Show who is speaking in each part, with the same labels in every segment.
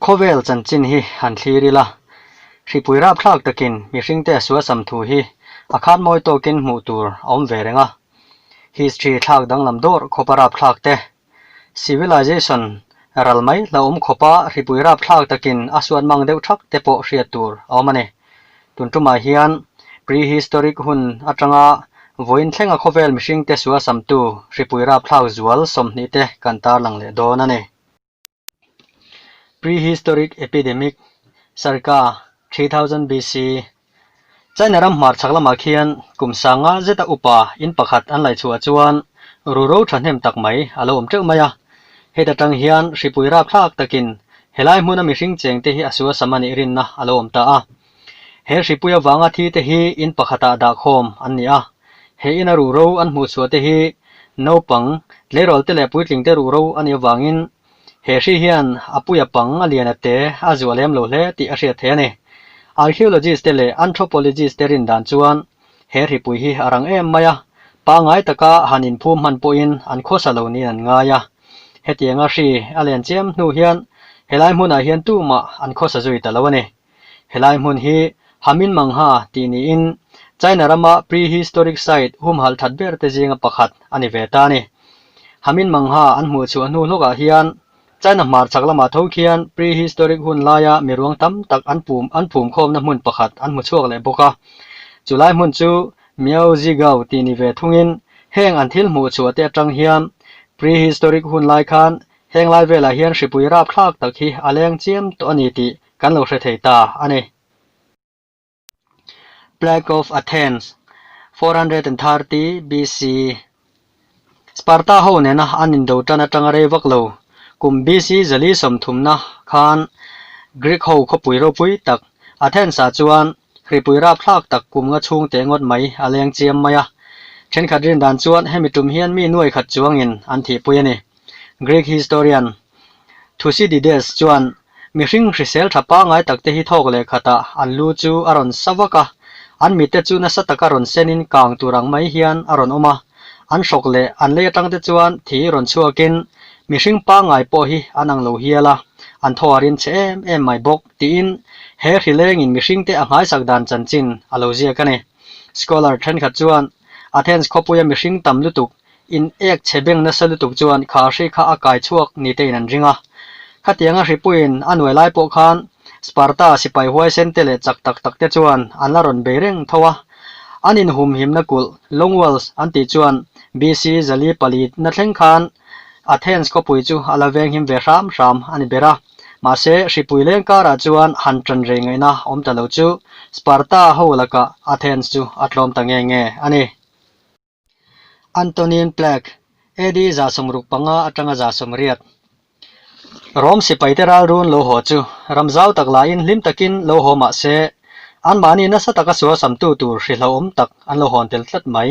Speaker 1: Khawvel chanchin hi han thlir ila, hripui rapthlak takin mihringte a sualsam thu hi a khatmawi tawkin hmuh tur a awm ve reng a. History thlak danglam dawr khawpa rapthlakte, Civilization ral mai hlauhawm khawpa hripui rapthlak takin a suat mang deuh thak te pawh hriat tur a awm a ni. Tun tumah hian prehistoric hun atanga vawiin thlenga khawvel mihringte sualsamtu hripui rapthlak zual sawmhnih te kan tarlang leh dawn a ni. Prehistoric Epidemic, Sarika, three thousand BC, China ram hmarchhak lamah khian kum sanga zeta upa in pakhat an laihchhuah chuan ru ro thahnem tak mai a lo awm teuh mai a. Heta tang hian hripui rapthlak takin he lai hmuna mihring chengte hi a suasam a nih rinna a lo awm ta a. He hripui avanga thi te hi in pakhatah dah khawm an ni a, he ina ruh ro an hmuh chhuah te hi naupang, tleirawl te leh puitling te ruh ro a nih avangin he hri hian a puia pang a lian a te a zuah lem lo hle tih a hriat theih a ni. Archaeologist te leh anthropologist te rindan chuan he hripui hi a rang em mai a, pangngai taka han inphum hman pawhin an khawsa lo niin an ngai a. Hetianga hri a len chiam hnu hian helai hmunah hian tumah an khawsa zui ta lo a ni. Helai hmun hi Hamin Mangha tih niin China rama prehistoric site humhalh that berte zinga pakhat a ni ve ta ni. Hamin Mangha an hmuh chhuah hnu hlawkah hian China hmarchhak lamah tho khian prehistoric hun laia mi ruang tam tak an pum an phum khawmna hmun pakhat an hmu chhuak leh bawk a. Chu lai hmun chu Miao Zhigao tih ni ve thungin heng an thil hmuh chhuah te atang hian prehistoric hun lai khan heng lai velah hian hripui rap thlak tak hi a leng chiam tawh a ni tih kan lo hre thei ta a ni. Plague of Athens, four hundred and thirty BCE, Sparta ho nena an indo tan atanga rei vak lo, kum BC zali sawmthumna khan Greek ho khawpui ropui tak Athens-a chuan Hripui rap thlak tak kumnga chhung teh ngawt mai a leng chiam mai a. Thenkhat rin dan chuan hemi tum hian mi nuai khat chuangin an thihpui a ni. Greek historian Thucydides chuan mihring hrisel tha pangai takte hi thawk leh khatah an lu chu a rawn sa vak a, an mitte chu nasa taka rawn senin kang tur ang mai hian a rawn awm a, an hrok leh an lei atangte chuan thi rawn chhuakin mihring pangai pawh hi an ang lo hial a, an thaw a rin chhe em em mai bawk. Tiin, he hrilengin mihringte a nghaisak dan chanchin a lo ziak a ni. Scholar thenkhat chuan, Athens khawpuia mihring tam lutuk, in ek chhe beng nasa lutuk chuan khar hri kha a kai chhuak ni tein an ring a. Khatianga hripuiin a nuai lai pawh khan Sparta sipai huaisente leh chak tak tak te chuan an la rawn bei reng tho a. An inhumhimna kulh, long walls, an tih chuan BC. zali pali na thleng khan Athens khawpui chu a la venghim ve hram hram a ni ber a. Mahse, hripui leng karah chuan han tan rei ngaihna awm ta lo chu, Sparta ho lakah Athens chu a tlawm ta nge nge a ni. Antonin Plack, AD. za sawm ruk panga atanga za sawm riat. Rome sipaite ralrun lo haw chu, ram zau tak lahin hlim takin lo haw mah se, anmahni nasa taka sualsamtu tur hrihlauhawm tak an lo hawn tel tlat mai.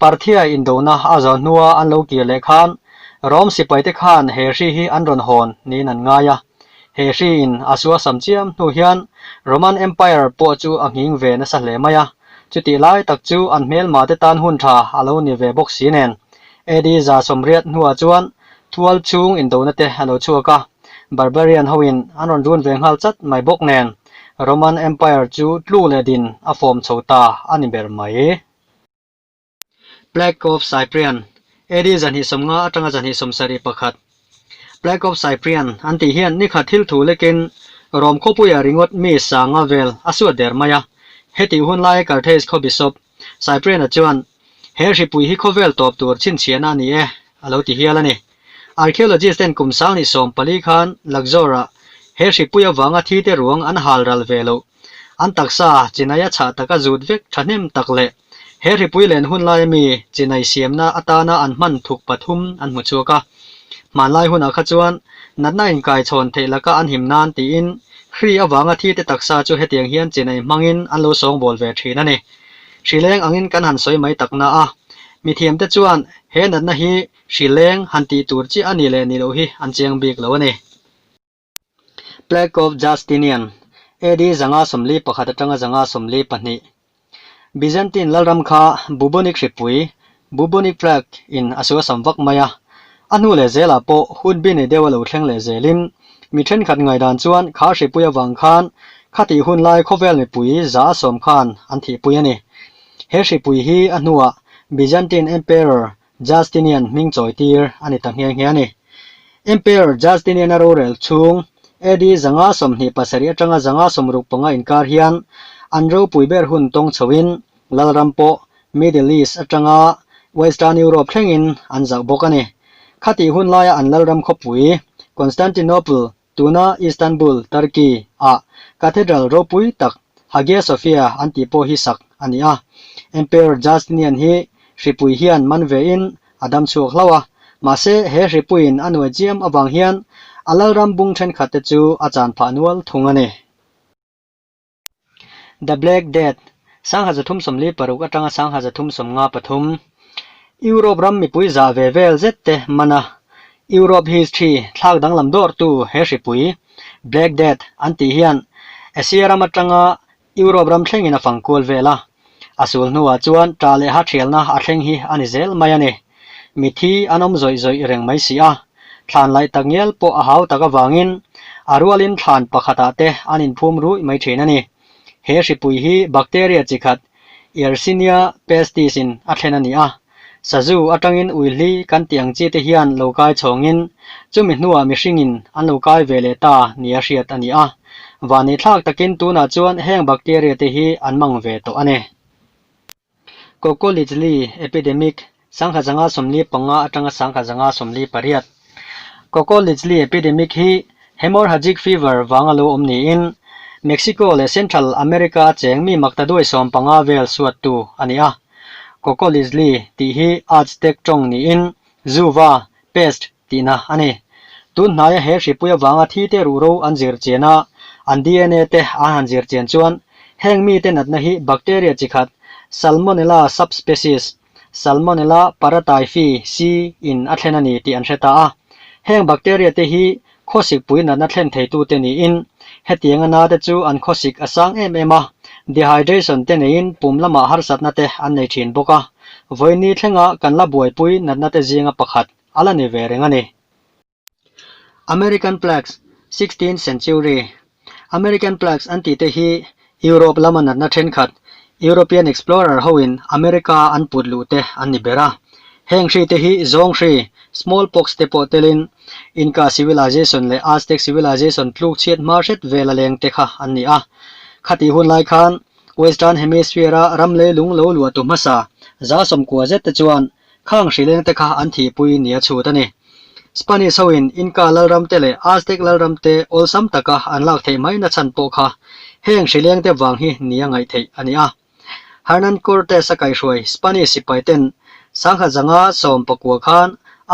Speaker 1: Parthia indona a za hnua an lo kir leh khan Rom sipaite khan he hri hi an rawn hawn niin an ngai a. He hriin a sualsam chiam hnu hian Roman Empire pawh chu a nghing ve nasa hle mai a. Chutih lai tak chu an hmelmate tan hun tha a lo ni ve bawk si nen. AD za sawmriat hnua chuan thual chhung indona te a lo chhuak a, barbarian hoin an rawn run ve nghal chat mai bawk nen Roman Empire chu tlu leh din a fawm chho ta a ni ber mai. Plague of Cyprian, AD zahnihsawm nga atanga zahnihsawm sarih pakhat, Plague of Cyprian an tih hian ni khat thilthu lekin Rome khawpuia ringawt mi sanga vel a suat der mai a, heti hun laia Carthage khaw bishop Cyprian-a chuan, He hripui hi khawvel tawp tur chhinchhiahna a ni e, a lo ti hial a ni. Archaeologist ten kum sang ni sawm pali khan Luxor-a he hripui avanga thi te ruang an hal ral ve loh. An taksa chinaia chhah taka zut vek tha hnem tak leh he hripui len hun laia mi chinai siamna atana an hman thuk pathum an hmu chhuak a. Hmanlai hunah kha chuan natna inkaichhawn theih laka an him nan tiin Hri avanga thi te taksa chu hetiang hian chinai hmangin an lo sawng bawl ve thin a ni. Hrileng angin kan han sawi mai takna a, mithiam te chuan he natna hi Hri leng, han tih tur chiah a ni leh ni loh hi an chiang bik lo a ni. Plague of Justinian, AD zanga sawmli pakhat atanga zanga sawmli pahnih, Byzantine lalram kha Bubonic hripui, Bubonic Plague, in a sualsam vak mai a. A hnu leh zelah pawh hut bi nei deuh a lo thleng leh zelin, mi thenkhat ngai dan chuan khar hripui avang khan khatih hun lai khawvel mipui za a sawm khan an thihpui a ni. He hripui hi a hnuah Byzantine Emperor Justinian hming chawi tir a ni ta ngial ngial a ni. Emperor Justinian-a rorel chhung AD zanga sawmhnih pasarih atanga zanga sawmruk panga inkar hian an ropui ber hun tawng chhoin Lalram pawh Middle East atanga Western Europe thlengin an zauh bawk a ni. Khati hun laia an Lalram khawpui Constantinople Tuna Istanbul, Turkey, ah Cathedral ropui tak Hagia Sophia an tih pawh hi sak a ni a. Emperor Justinian hi hripui hian man ve in a dam chhuak hlau a, mahse he hripuiin a nuai chiam avang hian a Lalram bung thenkhat te chu a chan phah nual thung a ni. The Black Death, Sangha Zathum Sawmli Paruk atanga Sangha Zathum Sawmnga Pathum, Europe ram mipui zah ve vel zet te man a, Europe history thlak danglam dawrtu he hripui, Black Death, an tih hian Asia ram atanga Europe ram thlengin a fangkual vel a. A sul hnuah chuan ṭah leh haṭhialna a thleng hi a ni zel mai a ni. Mit hi an awm zawih zawih reng mai si a, thlan laih tak ngial pawh a hau tak avangin a rualin thlan pakhatah te an inphum ruih mai ṭhin a ni. He hripui hi bacteria chi khat, Yersinia pestis, in a thlen a ni a. Sazu atangin Uihli kan tih ang chi te hian lo kai chhawngin chumi hnuah mihringin an lo kai ve leh ta ni a hriat a ni a. Vani thlak takin tunah chuan heng bacteria te hi an mang ve tawh a ni. Cocolicli epidemic, Sangha zanga sawmli panga atanga sangha zanga sawmli pariat. Coco Leachli epidemic hi hemorrhagic fever vanga lo awm niin, Mexico leh Central America a cheng mi Mactaduay sawm panga vel suattu a ni a. Coco Leachli tih hi Aztec tawng niin zuva, pest, tihna a ni. Tun hnaia he hripui avanga thi te ruhro an zir chian a, an dna te an han zir chian chuan heng mite natna hi bacteria chi khat, Salmonella subspecies, Salmonella paratyphi, C, in a thlen a ni tih an hre ta a. Heng bacteria te hi khawsik pui natna thlen theitu te niin, hetiang a nate chu an khawsik a sang em em a, dehydration te neiin pum lama harsatna te an nei thin bawk a. Vawini thlenga kan la buaipui natna te zinga pakhat a la ni ve reng a ni. American Plagues, Sixteenth Century, American Plagues an tihte hi Europe lama natna thenkhat European explorer hoin America an put luhte an ni ber a. Heng hrite hi zawng hri, smallpox, te pawh telin Inca Civilization leh Aztec Civilization tluk chhiat hma hret vela leng te kha an ni a. Khati hun lai khan Western Hemisphere-a ram leilung lo luahtu hmasa za sawmkua zette chuan Khang hrileng te kha an thihpui nia chhut a ni. Spanish hoin Inca lalram te leh Aztec lalram te awlsam taka an lak theih mai nachhan pawh kha heng hrileng te vang hi ni a ngaih theih a ni a. Hernan Cortes-a kaihhruai Spanish sipai ten sangha zanga sawm pakua khan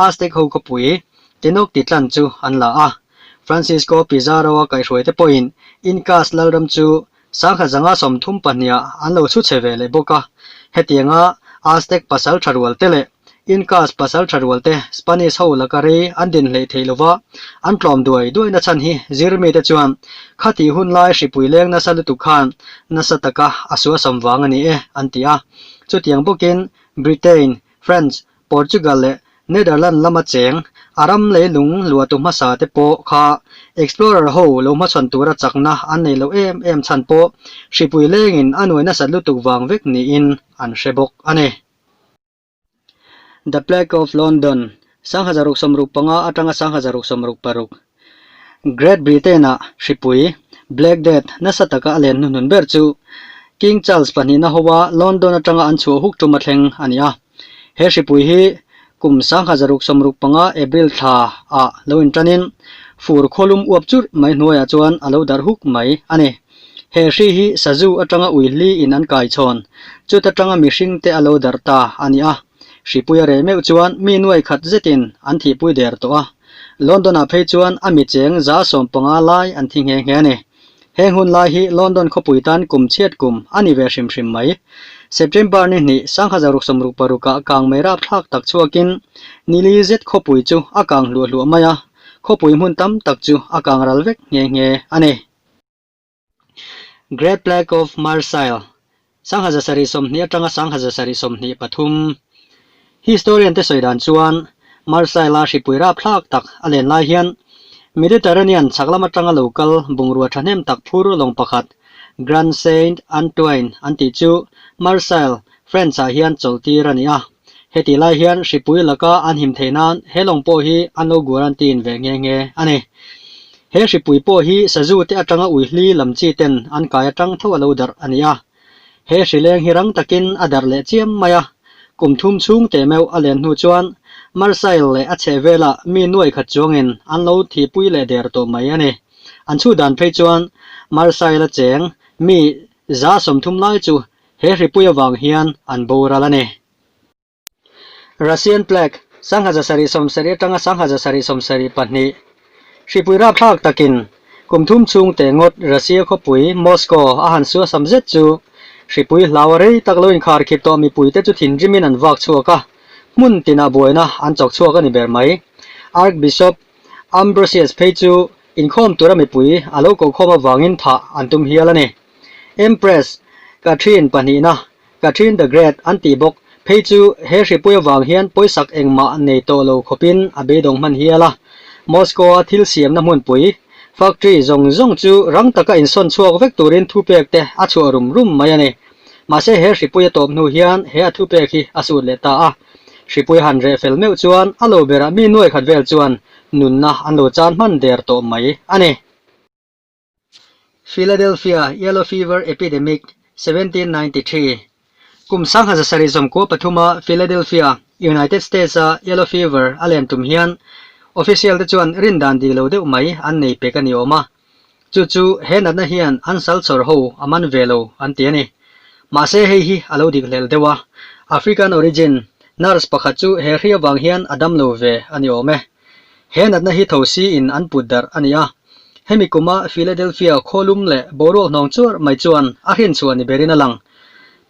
Speaker 1: Aztec ho khawpui Tenoch titlan chu an la a. Francisco Pizarro-a kaihhruai te pawhin Incas lalram chu Sangha zanga sawmthum pahniha an lo chhuchhe ve leh bawk a, hetianga Aztec pasal tha rual te leh Incas pasal tha rual te Spanish ho laka rei an din hleih theih lo va, an tlawm duai duai nachhan hi zir mite chuan kha tih hun lai hripui leng nasa lutuk khan nasa taka a sualsawm vang a ni e an ti a. Chutiang bawkin Britain, France, Portugal leh Netherland lama cheng a ram leilung luatu hmasa te pawh kha explorer ho lo hmachhawn tura chakna an nei lo em em chhan pawh hripui lengin a nuai nasat lutuk vang vek niin an hre bawk a ni. The Plague of London, Sangha zaruk sawmruk panga atanga sangha zaruk sawmruk paruk. Great Britain-a hripui, Black Death, nasa taka a len hnuhnun ber chu King Charles pahnihna hoa London atanga an chhuah huk ṭum a thleng a ni a. He hripui hi kum sangha zaruk sawmruk panga April thla ah lo in ṭanin fur khawlum uap churh mai hnuaiah chuan a lo darh huk mai a ni. He hri hi Sazu atanga uihli in an kai chhawn, chuta ṭanga mihringte a lo darh ta a ni a. Hripui a rei meuh chuan mi nuai khat zetin an thihpui der tawh a. London-ah phei chuan a mi cheng za sawm panga lai an thi nghe nghe a ni. Heng hun lai hi London khawpui tan kum chhiat kum a ni ve hrim hrim mai. September ni hnih sangha zaruk sawmruk parukah kang mei rap thlak tak chhuakin nili zet khawpui chu a kang hluah hluah mai a, khawpui hmun tam tak chu a kang ral vek nghe nghe a ni. Great Plague of Marseille, Sangha Zasarih sawmhnih atanga Sangha Zasarih sawmhnih pathum. Historian-te sawi dan chuan Marseille-a hripui rap thlak tak a len lai hian Mediterranean chhak lam atanga lo kal bungrua thahnem tak phur lawng pakhat Grand Saint Antoine an tih chu Marseille, France-ah hian chawlhtir a ni a. Heti lai hian hripui laka an him thei nan he lawng pawh hi an lo guarantee in ve nghe nghe a ni. He hripui pawh hi sazu te atanga uihli lam chi ten an kai atang tho a lo darh a ni a. He hri leng hi rang takin a darh leh chiam mai a. Kum thum chhung teh meuh a len hnu chuan Marsail leh a chheh vela mi nuai khat chuangin an lo thihpui leh der tawh mai a ni. An chhut dan phei chuan Marsaila cheng mi za sawmthum lai chu He hripui avang hian an boral a ni. Russian plague, Sanghaja sarih sawm sarih atanga sanghaja sarih sawm sarih pahnih, hripui rapthlak takin kum thum chhung te ngawt Russia khawpui Moscow a han suasam zet chu hripui hlau a rei tak lo inkharkhîr tawh mipui te chu thinrimin an vak chhuak a, hmun tinah buaina an chawk chhuak a ni ber mai. Archbishop Ambrosius phei chu inkhawm tura mipui a lo kohkhawm avangin thah an tum hial a ni. Empress Catherine pahnihna, Catherine the Great, an tih bawk. Phei chu he hripui avang hian pawisak engmah nei tawh lo khawpin a beidawng hman hial a. Moscow-a thil siamna hmunpui, factory, zawng zawng chu rang taka insawn chhuak vek turin thupek te a chhuah rum rum mai a ni. Mahse he hripui a tawp hnu hian he a thupek hi a sut leh ta a. Hripui han reh fel meuh chuan a lo berah mi nuaikhat vel chuan nunna an lo chan hman der tawh mai a ni. Philadelphia Yellow Fever Epidemic, Seventeen Ninety Three, Kum sangha zasarih zawmkhua pathuma Philadelphia, United States a Yellow Fever a len tum hian Official te chuan rin dan dik lo deuh mai an nei pek a ni awm a, chu chu he natna hian an sal chawr ho a man ve lo an ti a ni. Mahse hei hi a lo dik hlel deuh a, African origin nurse pakhat chu he hria vang hian a dam lo ve a ni awm e. He natna hi tho si-in an put darh a ni a. Hemi kuma Philadelphia khawlum leh boruak hnawng chuar mai chuan a hrinchhuah ni berin a lang.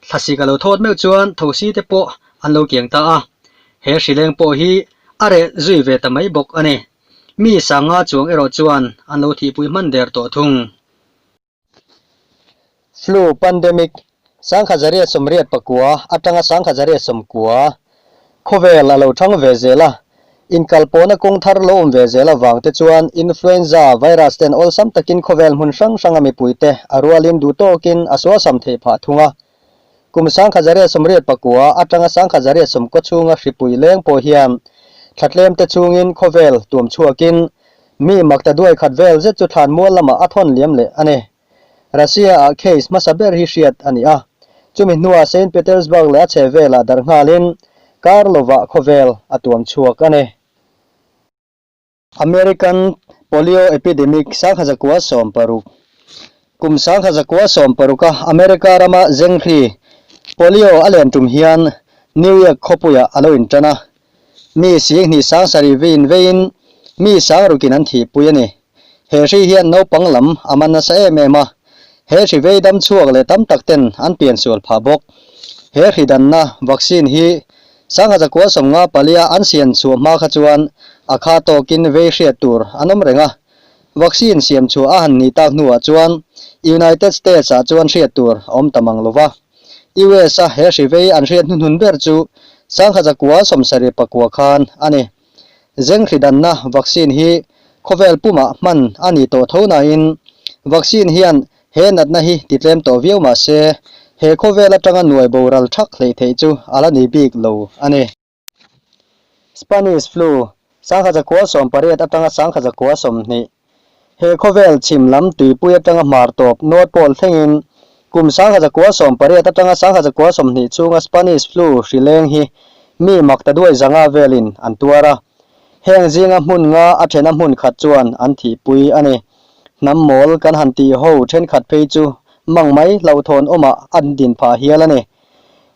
Speaker 1: Thlasik a lo thawt meuh chuan tho si te pawh an lo kiang ta a. He hrileng pawh hi a reh zui ve ta mai bawk a ni. Mi sanga chuang erawh chuan an lo thihpui hman der tawh thung. Flu pandemic, Sangha Zaria sawmriat pakua atanga Sangha Zaria sawmkua khawvel a lo thang ve zel a, inkalpawhna kawng thar lo awm ve zel avang te chuan influenza virus ten awlsam takin khawvel hmun hrang hranga mipuite a rualin duhtawkin a sualsam thei phah thung a, Kum sangkhat zaria sum riat pakua atanga sangkhat zaria sum kaw chhunga hripui leng pawh hian thlatlêmte chungin khawvêl tuam chhuakin mi makta duai khat vêl zet chu thlan mual lamah a thawn liam leh a ni. Russia-ah case hmasa ber hi hriat a ni a, chumi hnuah Saint Petersburg leh a chhehvêlah darh nghalin Karlova khawvêl a tuam chhuak a ni. American Polio Epidemic Sangha Zakua Sawm Paruk Kum Sangha Zakua Sawm Paruka America rama Zengri Polio a len tum hian New Year khawpuia a lo intan a, mi sing hnih sang sarih veiin veiin mi sang rukin an thih pui a ni. He hri hian naupang lam a man nasa em em a, he hri vei dam chhuak leh tam tak ten an pian sual phah bawk. He hri danna vaccine hi Sanghaza Kualsawmnga palia an siam chhuah hma kha chuan a kha tawkin vei hriat tur an awm reng a. Vaccine siam chhuah a han ni tak hnuah chuan United States-ah chuan hriat tur a awm ta mang lo va. US-a he hrivei an hriat hnuhnun ber chu Sanghaza Kualsawm sarih pakua khan a ni. Zenghlidhanna vaccine hi khawvel puma hman a ni tawh tho nain vaccine hian he natna hi ti tlem tawh viau mah se, he khawvel atanga nuai boral thak hleih theih chu a la ni bik lo a ni. Spanish flu, Sangha zakua sawmpariat atanga sangha zakua sawmhnih. He khawvel chhim lam tuipui atanga hmar tawp nuat pawl thlengin kum sangha zakua sawm pariat atanga sangha zakua sawmhnih chunga Spanish Flu hri leng hi mi mak ta duai zanga velin an tuar a. Heng zinga hmunnga a thena hmun khat chuan an thihpui a ni. Hnam mawl kan han tih ho thenkhat phei chu mangmai hlauhthawn awmah a din phah hial a ni.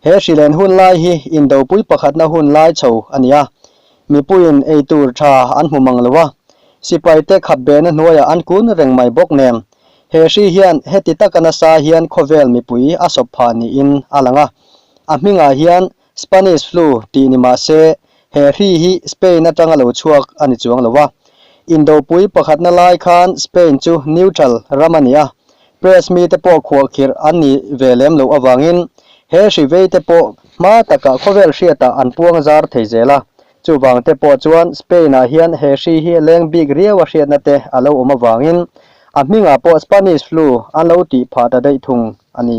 Speaker 1: He hri len hun lai hi Indopui pakhatna hun lai chho a ni a, mipuiin ei tur tha an hmu mang lo a, sipaite khap bena hnuaiah an kun reng mai bawk nem. He hri hian heti taka nasa hian khawvel mipui a sawp phah niin a lang a, a hmingah hian Spanish Flu tih ni mah se He hri hi Spain atanga lo chhuak a ni chuang lo va, Indopui pakhatna lai khan Spain chu neutral ram a ni a, press mi te pawh khuahkhirh an nih ve lem loh avangin he hri vei te pawh hma takah khawvel hriatah an puang zar thei zel a, chuvang te pawh chuan Spain ah hian he hri hi leng bik riaua hriatna te a lo awm avangin a hmingah pawh Spanish flu an lo tih phah ta daih thung a ni.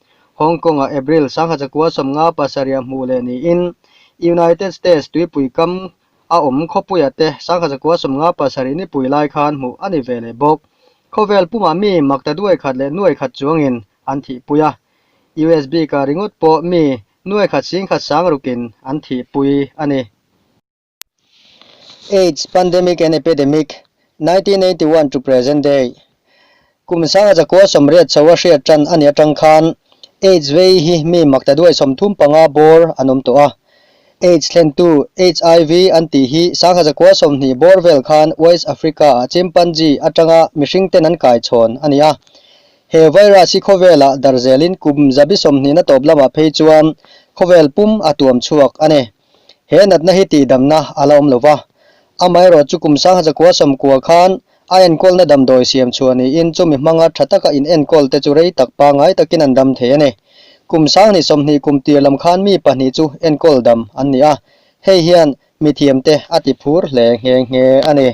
Speaker 1: Hong Kong-ah April sangha chakua sawm nga pasarih-a hmuh leh niin United States tuipui kam a awm khawpuiah te sangha chakua sawm nga pasarih nipui lai khan hmuh a ni ve leh bawk. Khawvel pumah mi makta duai khat leh nuai khat chuangin an thihpui a, US bika ringawt pawh mi nuai khat sing khat sang rukin an thihpui a ni. Aids Pandemic and Epidemic, Nineteen Eighty One to Present Day, Kum Sanga Zakua Sawmriat Chaua Hriat Tan a ni atang khan Aids vei hi mi makta duai sawm thum panga bawr an awm tawh a. Aids thlentu, HIV, an tih hi Sangha Zakua Sawmhnih bawr vel khan West Africa ah chimpanzee atanga mihring ten an kai chhawn a ni a. He virus hi khawvelah dar zelin kum zabi sawmhnih na tawp lamah phei chuan khawvel pum a tuam chhuak a ni. He natna hi tihdamna a la awm lo va, amaherawh chu kum sangha chakua sawmkua khan a enkawlna damdawi siam chhuah niin chumi hmanga tha taka inenkawl te chu rei tak pangngai takin an dam thei a ni. Kum sang ni sawmhnih kum tir lam khan mi pahnih chu enkawl dam an ni a, hei hian mithiam te a ti phur hle nghe nghe a ni.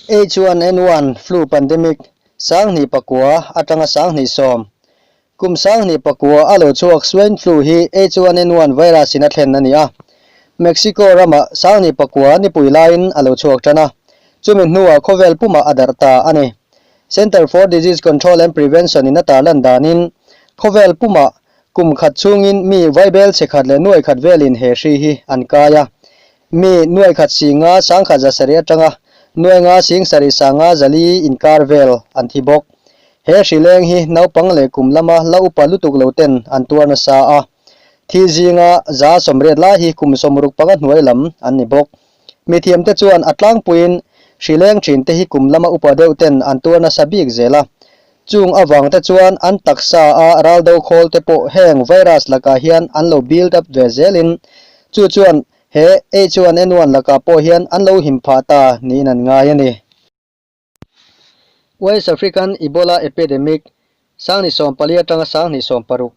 Speaker 1: H one N one flu pandemic sanghnih pakua atanga sanghnih sawm, kum sanghnih pakua a lo chhuak swine flu hi H one N one virus in a thlen a ni a. Mexico ramah sanghnih pakua nipui laiin a lo chhuak tan a, chumi hnuah khawvel pumah a darh ta a ni. Centre for Disease Control and Prevention in a tar lan danin, khawvel pumah kum khat chungin mi vaibel che khat leh nuai khat velin he hri hi an kai a, Mi nuai khat singa sang khat zasarih atanga nuainga sing sarih sanga zali inkar vel an thi bawk. He hrileng hi naupang leh kum lama la upa lutuk lo ten an tuar nasa a. Thi zinga za sawmriat lai hi kum sawmruk panga hnuai lam an ni bawk. Mithiamte chuan a tlangpuiin hrileng ṭhinte hi kum lama upa deuh ten an tuar nasa bik zel a. Chung avangte chuan an taksa a ral do khawl te pawh heng virus lakah hian an lo build up ve zelin, chu chuan he H1N1 lakah pawh hian an lo him phah ta niin an ngai a ni. West African Ebola Epidemic, Sang ni sawm pali atanga Sang hnih sawm paruk.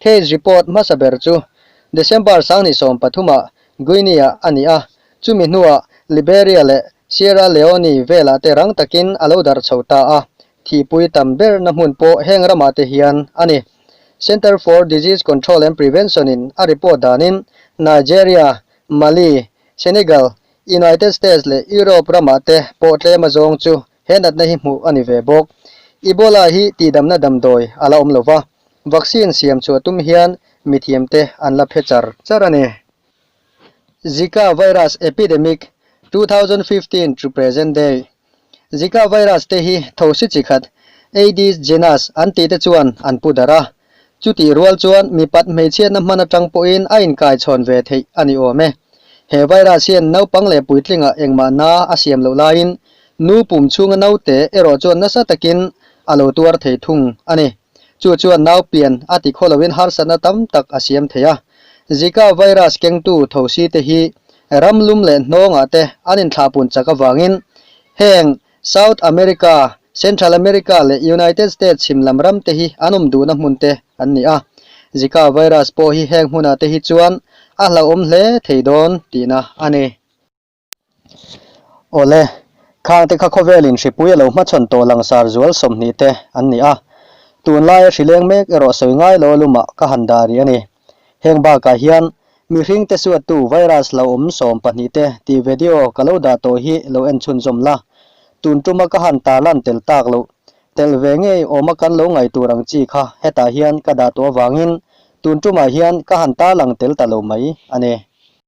Speaker 1: Case report hmasa ber chu December sangni sawm pathumah Guinea a ni a, chumi hnuah Liberia leh Sierra Leone velah te rang takin a lo dar chho ta a, thihpui tam berna hmun pawh heng ramah te hian a ni. Centre for Disease Control and Prevention-in a report danin Nigeria, Mali, Senegal, United States leh Europe ramah te pawh tlema zawng chu He natna hi hmuh a ni ve bawk. Ebola hi tihdamna damdawi a la awm lo va, vaccine siam chhuah tum hian mithiamte an la phe char char a ni. Zika virus epidemic, two thousand fifteen to present day, Zika virus te hi thosi chi khat Aedes genus an tihte chuan an pu darh a, Chutih rual chuan mipat hmeichhiana hman atang pawhin a inkaichhawn ve theih a ni awm e. He virus hian naupang leh puitlinga engmah na a siam loh laiin nu pum chhunga naute erawh chuan nasa takin a lo tuar thei thung a ni. Chu chuan nau pian a ti khaw loin harsatna tam tak a siam thei a. Zika virus kengtu thosi te hi ramlum leh hnawngah te an inthlahpun chak avangin heng South America, Central America leh United States him lam ram te hi an awm duhna hmun te an ni a, Zika virus pawh hi heng hmunah te hi chuan a hlauhawm hle thei dawn tihna a ni. Awle, khang te kha khawvelin hripui a lo hmachhawn tawh langsar zual sawmhnih te an ni a, tunlaia hrileng mek erawh sawi ngai lo lum ah ka han dah rih a ni. Heng bakah hian mihring te suattu virus lo awm sawm pahnih te tih vedio ka lo dah tawh hi lo en chhun zawm la, tun tuma ka han tarlan tel tak loh. Tel ve ngei awma kan lo ngai tur ang chi kha hetah hian ka dah tawh avangin tun tumah hian ka han tarlang tel ta lo mai a ni.